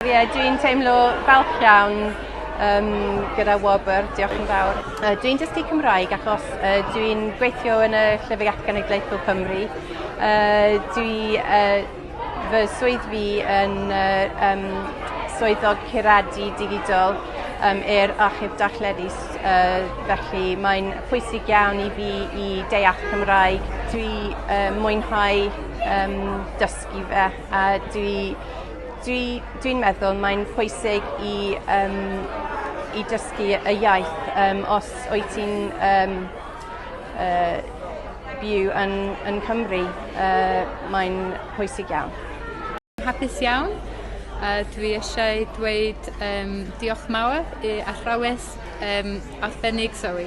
Ie, dwi'n teimlo falch iawn um, gyda Wobr, diolch yn fawr. Uh, dwi'n dysgu Cymraeg achos uh, dwi'n gweithio yn y Llyfrgell Genedlaethol Cymru. Uh, dwi, uh, fy swydd fi yn uh, um, swyddog curadu digidol um, i'r achub darlledus. Uh, felly mae'n pwysig iawn i fi i deall Cymraeg. Dwi uh, mwynhau um, dysgu fe. A dwi dwi dwi'n meddwl mae'n pwysig i yym i dysgu y iaith yym os wyt ti'n yym yy byw yn yn Cymru yy mae'n pwysig iawn. Hapus iawn a dwi eisiau dweud yym diolch mawr i athrawes yym arbennig Zoe.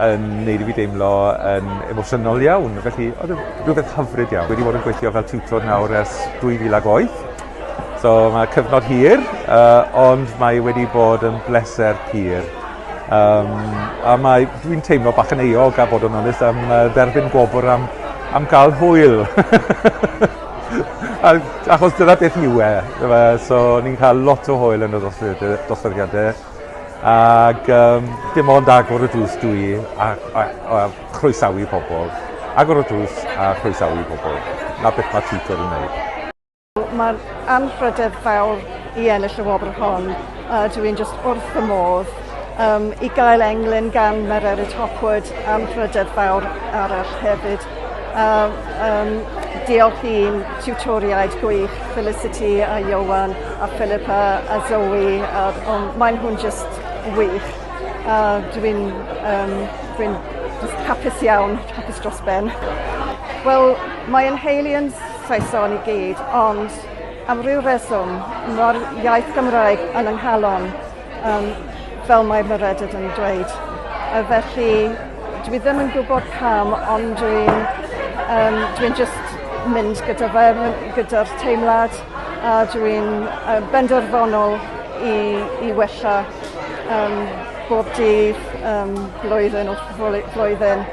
yn neud i fi deimlo yn emosiynol iawn. Felly, oedd yn e rhywbeth hyfryd iawn. Wedi bod yn gweithio fel tiwtor nawr ers 2008. So mae cyfnod hir, uh, ond mae wedi bod yn bleser pur. Um, a mae, dwi'n teimlo bach yn eog a bod yn onest am uh, dderbyn gwobr am, am gael hwyl. achos dyna beth yw e. So ni'n cael lot o hwyl yn y dosbarthiadau. Ac um, dim ond agor y drws dwi a, a, a chroesawu pobl. Agor y drws a chroesawu pobl. Na beth mae tutor yn gwneud. Mae'r anrhydedd fawr i ennill y wobr hon. Uh, dwi yn just wrth y modd um, i gael englyn gan Mererid Hopwood am rhydedd fawr arall hefyd. A yym diolch i'n tiwtoriaid gwych Felicity a Ioan a Philippa a Zoe a o maen nhw'n jyst wych a dwi'n yym dwi'n jyst hapus iawn, hapus dros ben. Wel mae ein nheulu yn Saeson i gyd ond am ryw reswm ma'r iaith Gymraeg yn yng nghalon. Um, fel mae Meredith yn dweud. Uh, felly, dwi ddim yn gwybod pam, ond dwi'n um, dwi just mynd gyda fe, gyda'r teimlad, a dwi'n uh, benderfynol i, i wella um, bob dydd, um, blwyddyn o flwyddyn,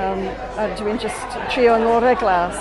um, a dwi'n just trio ngorau glas.